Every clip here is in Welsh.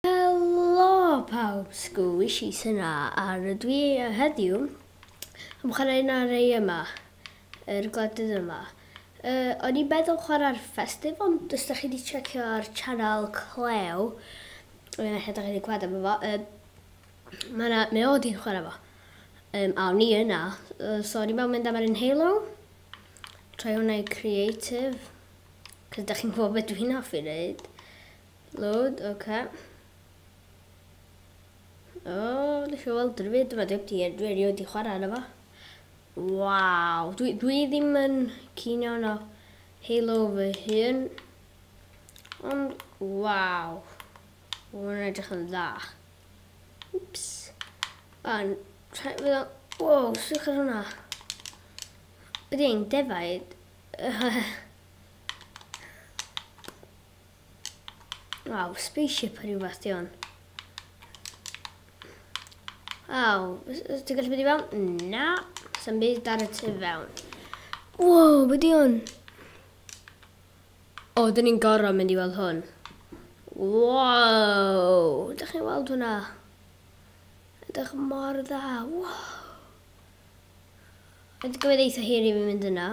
Helo pawb, Sgwis i Suna a rydw i heddiw am chwarae Nari yma, yr gwledydd yma. Yy o'n i'n meddwl chwarae'r Festif ond os dach chi 'di tsecio ar Channel Cleo yy ella dach chi 'di clywed amdano fo yy ma' 'na mae o 'di chwarae fo yym a o'n i yna yy so o'n i'n meddwl mynd am yr un Halo troi hwnna i creative 'c'os dach chi'n gwbod be dwi'n hoffi neud. Load, ok. O, nes i weld rhywbeth yma, dim ti edrych erioed i chwarae yna fo. Waw, dwi, dwi ddim yn cyn iawn o Halo fy hun. Ond, waw. Mae'n edrych yn dda. Ups. A'n rhaid fydd o'n... Wow, sych ar hwnna. Bydd i'n defaid. Waw, spaceship o rhywbeth di hwn. Waw, ti'n gallu bod i fewn? Na, sy'n byd ar y tu fewn. Waw, be di hwn? O, dyn ni'n gorau mynd i weld hwn. Waw, da chi'n weld hwnna? Ydych mor dda, waw. Ydych chi'n gwybod eitha hir i fi mynd yna.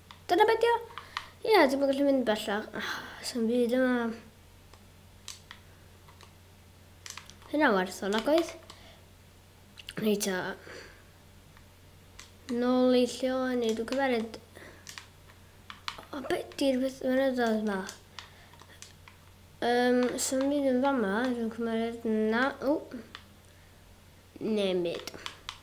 Dyna be' 'di o. Ie, dwi'm yn gallu mynd bellach. Ah, Sa'm byd yma. Hynna'n werth o nagoedd? Reit ta. Nôl i lle o'n i, dwi'n cymeryd... O, be' 'di'r beth mynyddoedd ma? Um, Sa'm byd yn fama, dwi'n cymeryd... Na, o! Neb byd.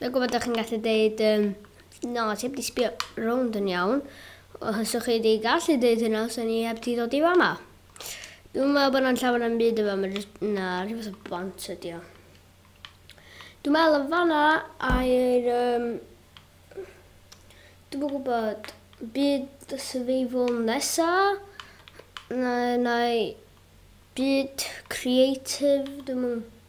Dwi'n gwybod ydych chi'n gallu dweud, um, na, ti heb di sbio rownd yn iawn. Os ydych chi wedi gallu dweud hynna, os ni heb di ddod i fama. Dwi'n meddwl bod yna'n llawer am byd efo yma, na, rhyw fath o bont ydi o. Dwi'n meddwl yn fanna a'r... Um, dwi'n gwybod byd survival nesa, na, na byd creative, dwi'n meddwl.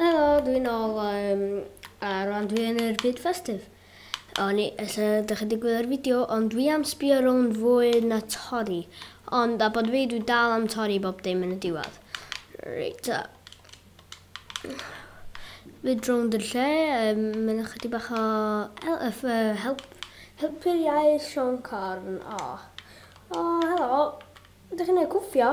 Helo, dwi'n ôl um, a rwan dwi yn yr byd festif. O'n i, ella ydych chi wedi gwylio'r fideo, ond dwi am sbio rownd fwy na torri. Ond a bod fi, dwi dal am torri bob dim yn y diwedd. Reit, ta. Fyd rownd yr lle, um, mae'n ychydig bach o help, uh, help, helpu'r iaith Sean Corn. O, oh. o, oh, helo, ydych chi'n ei cwffio?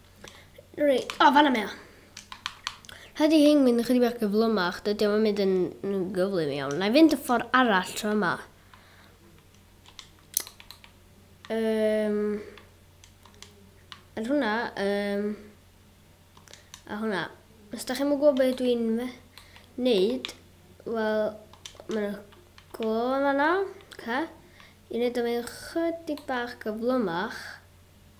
Reit, o, fanna mae o. Rhaid i hyn mynd ychydig bach gyflymach, dydy o'n mynd yn gyflym iawn. Na i fynd y ffordd arall tro yma. Um, er hwnna, um, a hwnna. Os da chi'n gwybod beth dwi'n neud, wel, mae'n glo yma na. Okay. I wneud o'n mynd chydig bach gyflymach.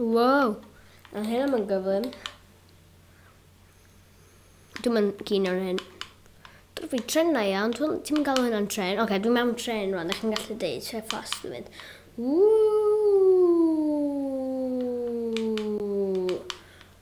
Wow! A hyn am yn gyflym. Dwi'n mynd cyn o'r hyn. Dwi'n fi tren na iawn, dwi'n ti'n gael hynna'n tren. Oce, okay, dwi'n mewn tren rwan, ydych chi'n gallu deud, tre ffos dwi'n mynd. Ww!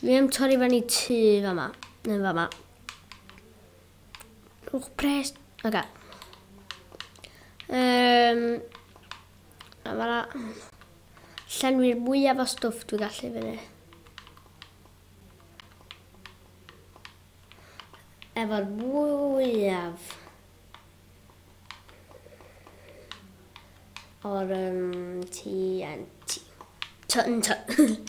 Dwi am torri fan i tu fama. Neu fama. Rhwch pres. Oce. Um, a fanna. Llenwi'r mwyaf o stwff dwi'n gallu fyny. Efo'r mwyaf. O'r um, TNT. Tun, tun.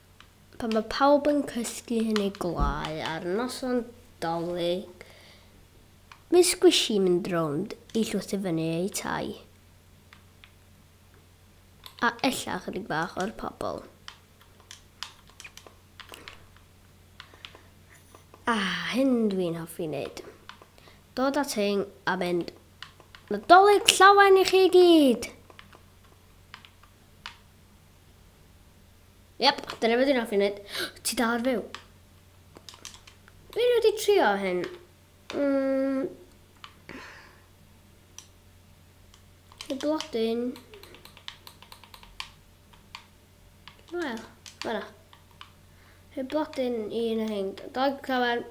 Pan mae pawb yn cysgu yn eu gwlâu ar noson Dolig, mae Squishy'n mynd rownd i llwyth i fyny eu tai, a ella ychydig bach o'r pobl. A hyn dwi'n hoffi wneud. Dod at hyn a mynd, Nadolig llawen i chi gyd! Yep, dyna beth dwi'n hoffi wneud. Ti dal ar fyw? Dwi'n wedi trio hyn. Mm. Y blodyn. Wel, fanna. Y blodyn i yn y hyn. Dog llawen.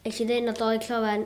Eich i ddyn o dog llawen.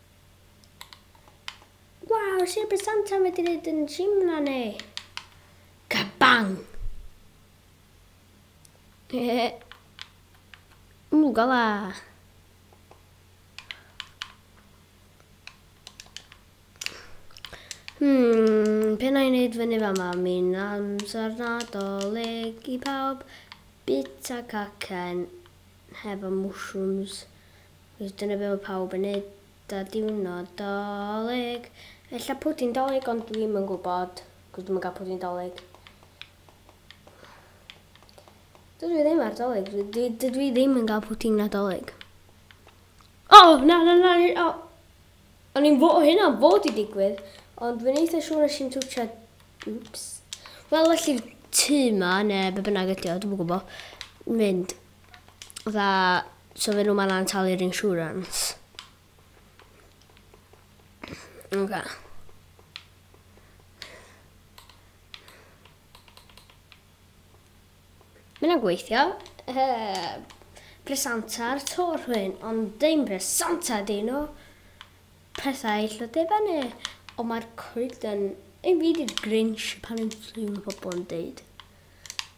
Waw, sir bydd Santa'n wedi neud yn Simla neu? Kabang! Mwgala! Hmm, pe na i wneud fyny fa ma, mi'n amser nadolig i pawb. Bita cacen hefo mushrooms. Cos dyna be mae pawb yn neud da diwrnod dolig. Ella pwdin dolig ond dwi ddim yn gwybod cos dwi'm yn cael pwdin dolig. Dydw i ddim ar dolig, dwi, dwi, dydw i ddim yn cael pwdin nadolig. O, oh, na, na, na, o. Oh. O'n i'n fod, hynna fod i digwydd, ond dwi'n eitha siŵr nes i'n twtio, wps. Wel, felly tŷ ma, neu be bynnag ydi o, dwi'n gwybod, mynd dda so fe nhw ma'n lan talu'r insurance. Oce. Mae'n yna'n gweithio. Presantar to rhywun, ond dim presanta di nhw. Pethau lle dy fyny. Ond mae'r coed yn... Ei fi di'r Grinch pan yn llun o bobl yn deud.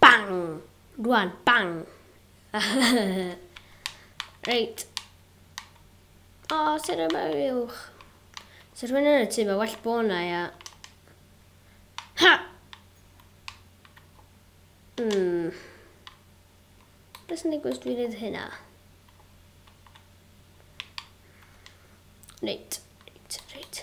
Bang! Rwan, bang! Reit. O, oh, sy'n rhaid mewn uwch. Sy'n rhywun yn y tu, mae well bod na, ia. Ha! Hmm. Beth sy'n digwydd dwi'n neud hynna? Reit, reit, reit.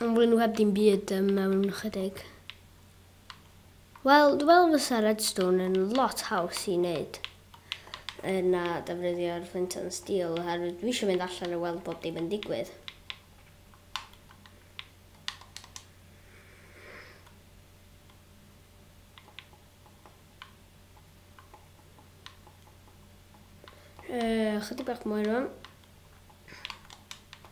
Yn fwy nhw heb dim byd um, mewn ychydig. Wel, dwi'n meddwl fysa redstone yn lot haws i wneud yna defnyddio'r flint and steel oherwydd dwi eisiau mynd allan a weld bob dim yn digwydd. Uh, chydig bach mwy rwan.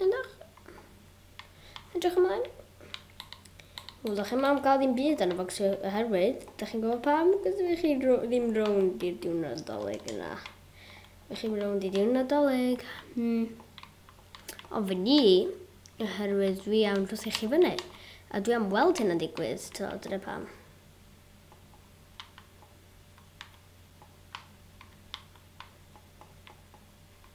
Edrych. Edrych ymlaen. Wel, da chi'n am gael ddim byd yn y bocs oherwydd, da chi'n gwybod pam? Cos dwi chi ddim rownd i'r diwn nadolig yna. Dwi chi'n rownd i'r diwn nadolig. Hmm. Ond fy ni, oherwydd dwi am dros chi fyny. A dwi am weld hyn yn digwydd, to, dyna pam.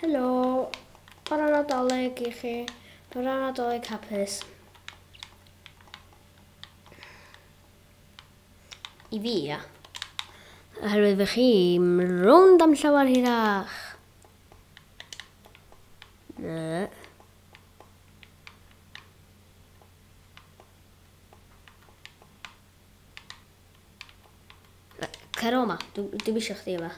Helo! Bore Nadolig i chi. Bore Nadolig hapus. I fi, ia. Oherwydd fy chi, rownd am llawer hirach. Na. Cer o ma, dwi'm eisiau chdi yma.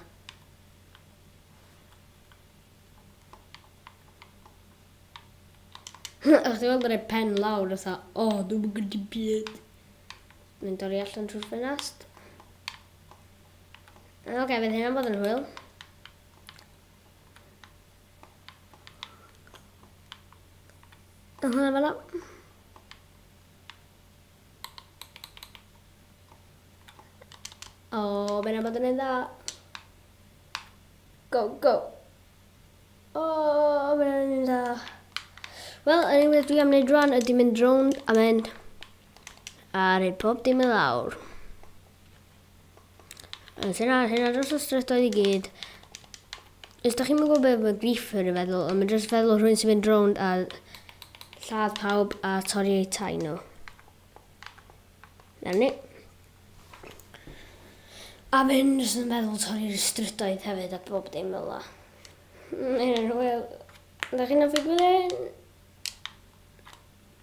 Ach, ti'n gweld yn pen lawr, fatha, o, oh, dwi'n mynd gyda byd. Mynd o'r i allan trwy'r ffenast. Oce, okay, fydd hynna'n bod yn hwyl. Hwyl fel O, oh, mae'n amod yn ei dda. Go, go. O, oh, mae'n amod yn ei dda. Wel, yn ei wedi am wneud rhan ydy mynd rownd a mynd a rhaid pob dim yn lawr. Os hyn ar hyn ar dros y strydoedd i gyd. Os da chi'n mynd gwybod beth mae griefer yn feddwl, ond mae'n dros feddwl rhywun sy'n mynd rownd a lladd pawb a torri eu tai nhw. Na ni. A mae hyn jyst yn meddwl torri'r strydoedd hefyd a bob dim fel la. Mae'n hwyl. Da chi'n hoffi gwylio hyn?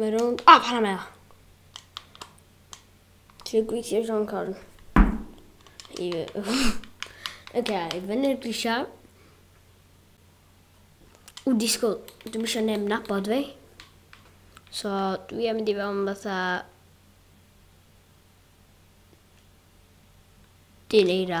Mae rownd... O, pan am eo! Ti'n gweithio John Corn? Ie. Oce, i fyny'r grisiau. Ww, disgwyl. Dwi'n eisiau neb nabod fi. So, dwi am mynd i fewn fatha... Dyn eira.